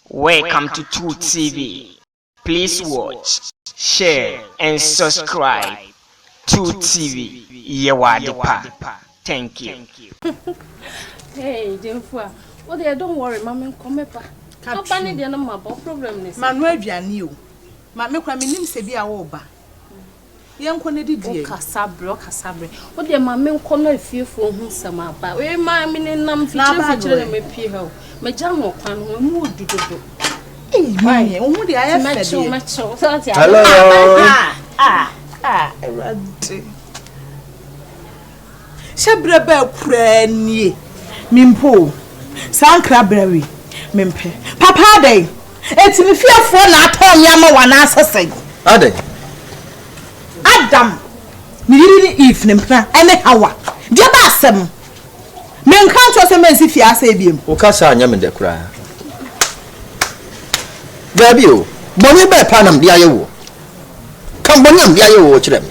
Welcome to True TV please watch, share and subscribe True TV yɛ wɔ ade pa thank you. Hey, Jenfua. Oh, they don't worry, mommy, come up. Come on, they no mabo problem this. Manu aduane o. Ma me kwa me nim se bi a wo ba. Yɛnkɔ na didi yɛn. Wokasa brɛ ɔkasa brɛ. Wo deɛ ma me nkɔ na efiefoɔ ho nsɛm aba. Wei ma me ne nam mfikyire mfikyire na me pie ha o. Magya no ɔkwan no ho emu odu dodo. Eyi wo ho deɛ ayɛ fɛ deɛ. Mɛkyew mɛkyew sɛ ɔte ade. Hello. Ah ah ah awurade. Hyɛ berɛ bɛɛ koraa nie me mpo o saa nkra berɛ wei me mpɛ papa adɛn ɛti me fiefoɔ na atɔn me ama wo anaasɛ sɛn. Adɛn. Adam ne yere ne Eve ne mpena ɛne Hawa deɛ ba asɛm me nka nkyerɛ sɛ mɛnsi fie asɛe biom. Wo ka saa nyɛ me dɛ koraa daabi o bɔne bɛɛ paa na mede ayɛ woɔ ka bɔne a mede ayɛ woɔ kyerɛ me.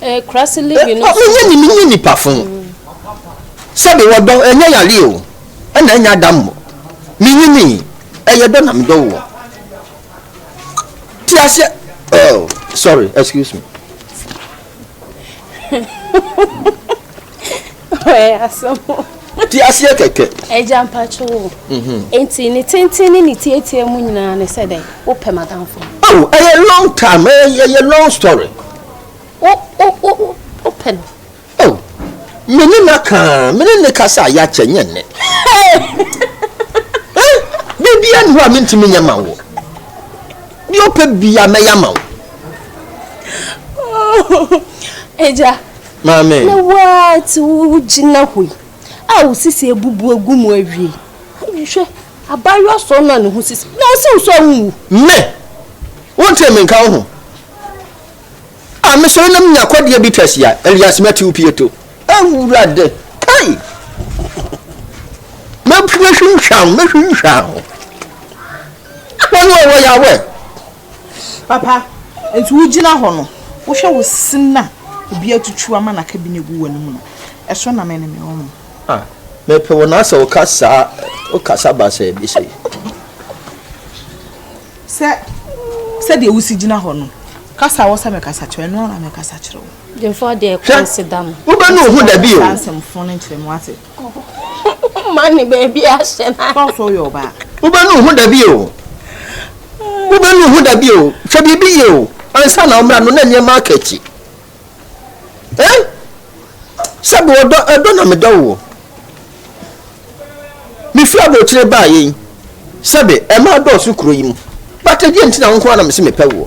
Menyɛ ne menyɛ nipa fo sɛbi wɔdɔ ɛnyɛ yare o ɛna ɛnyɛ adammɔ menyini ɛyɛ dɔ na medɔ woɔ ti aseɛ oh sorry excuse me Ɔyɛ asɛm o. Te aseɛ kɛkɛ. Agya mpacho wo. Mhm. Enti ne tenten ne ne tietie mu nyinaa ne sɛ dɛn? Wopɛ m'adamfo. Oh, ɛyɛ long time, ɛyɛ ɛyɛ long story. Wo wo wo wo wopɛ no. Oh, me ne no aka, me ne no kasa a yɛakyɛ nyɛ nnɛ. Eh, biribiara nni hɔ a mentumi nyɛ ma wo. Deɛ wopɛ biara mɛyɛ ama wo. Oh, agya, Maame! Na wo ara nti wugyina hɔ yi a wo sisi abubu agu mu awie. Hwɛ, abaayewa sɔɔ no a ne ho sisi, na osiw so a wunwu. Me! Wontee me nka wo ho? A mesɔre na minya kwadua bi twɛsia, Elias Matthew Pieto. Awurade! Kai! Mɛhwinhwa wo, mɛhwinhwa wo. Wɔn a wɔyɛ awɛ. Papa, nti wo gyina hɔ no wo hwɛ wo se na obi atutu ama na ka bi na egu w'anom no ɛso na me ne me ɔmo. Ah me pe wo na sɛ wo ka saa wo kasa basaa bi sei. Sɛ sɛ deɛ wo si gyina hɔ no kasa wɔ sɛ me kasa kyerɛ ɛno ara na me kasa kyerɛ wo. Gyimfoɔ deɛ kɔ nseda mo. Hwɛ wo bɛ nu ho dabi o. Saa nsɛm fo no nkyerɛ me wate. Woma ne baabi ahyɛ na. Sɛ ɔsɛ ɔyɛ ɔbaa. Wobɛnu ho da bio. Wobɛnu ho da bio. Hwɛ biribi yie o. Ansa na ɔmmra no na nneɛma aka akyi. Eh? Sɛbi ɔdɔ ɛdɔ na medɔ wo. Mefiri aburokyire baa yei. Sɛbi ɛmaa dɔɔso kuro yi mu. But ɛdeɛ nti na wo nko ara na mese mepɛ woɔ.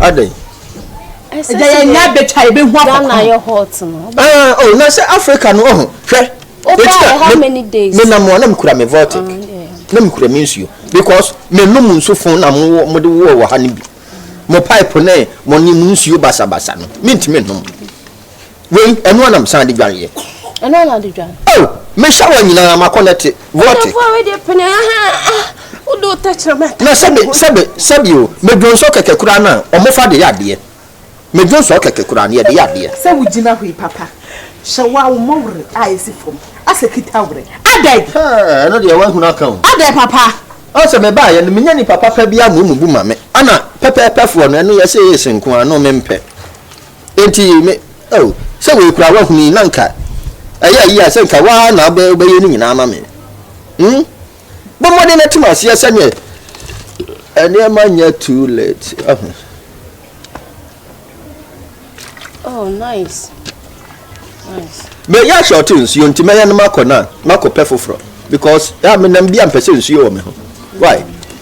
adɛn ɛgya yɛ nya bɛtwa yɛ bɛhu akɔkɔ na sɛ africa no ɔho hwɛ menam a na mekura me vortic na mekura me nsuo because menom nsu fo na mode woɔ wɔ ha no bi mo pipe ne mo ne mo nsuo basabasa no mentumi nom Wei, ɛno ara na mesan de dwareeɛ. Ɛno ara na wode dware? Oh, me shower nyinaa makɔ na te. Wɔte. Ɛdɔfo a wode pene aha a wode wo tɛkyerɛma ɛka. Na sɛbe sɛbe sɛbe o, medwonsɔ kɛkɛ koraa no a wɔfa de yɛ adeɛ. Medwonsɔ kɛkɛ koraa no yɛde yɛ adeɛ. Sɛ wogyina hɔ yi papa, hyɛ wo a wo mmɔ were a ɛsi fam, asɛ kita were. Adɛn? Hɛɛ, ɛno deɛ woahunu aka o. Adɛn papa? Ɔn sɛ mebaeɛ no menya nipa papa biara mmom bu ma me. Ana pɛpɛɛpɛfoɔ no, ɛno yɛse ace nko ara no mempɛ. Enti me, oh, sɛ wei koraa woahunu yi, na anka ɛyɛ yie a sɛ anka woa na wobɛ, wobɛyɛ ne nyinaa ama me. Hmm? Bɔ mmɔden na tim aseɛ sɛdeɛ nneɛma nyɛ too late. Ahu. Oh, nice. Nice. Meyɛ ahyɛ ɔte nsuo nti mɛyɛ no makɔ no a makɔpɛ foforɔ because ɛa menam bi a mpɛ sɛ nsuo wɔ me ho. Why?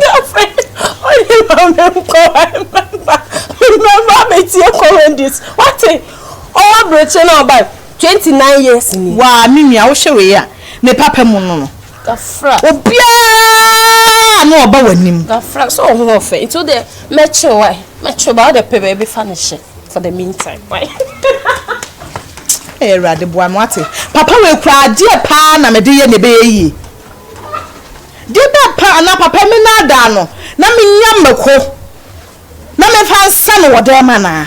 girlfriend ɔne maame nkɔ mɛmba mɛmba abɛtie comedies wate ɔwɔ abirekyi na ɔba twenty nine years ni. waa me nua wohwɛ wei a me papa mu no no gafra obiara na ɔba w'anim gafra sɛ ɔho ɔfɛ nti wo deɛ mɛkye wae mɛkye ba wo deɛ pɛ baabi fa no hyɛ for the meantime wae ɛyɛ awurade boa me wate papa wei kura adeɛ paa na mede yɛ na ɛbɛyɛ yie Gye dɛ pa anaa papa me naadaa no na menya mako na memfa nsa no wɔ dɛm anaa?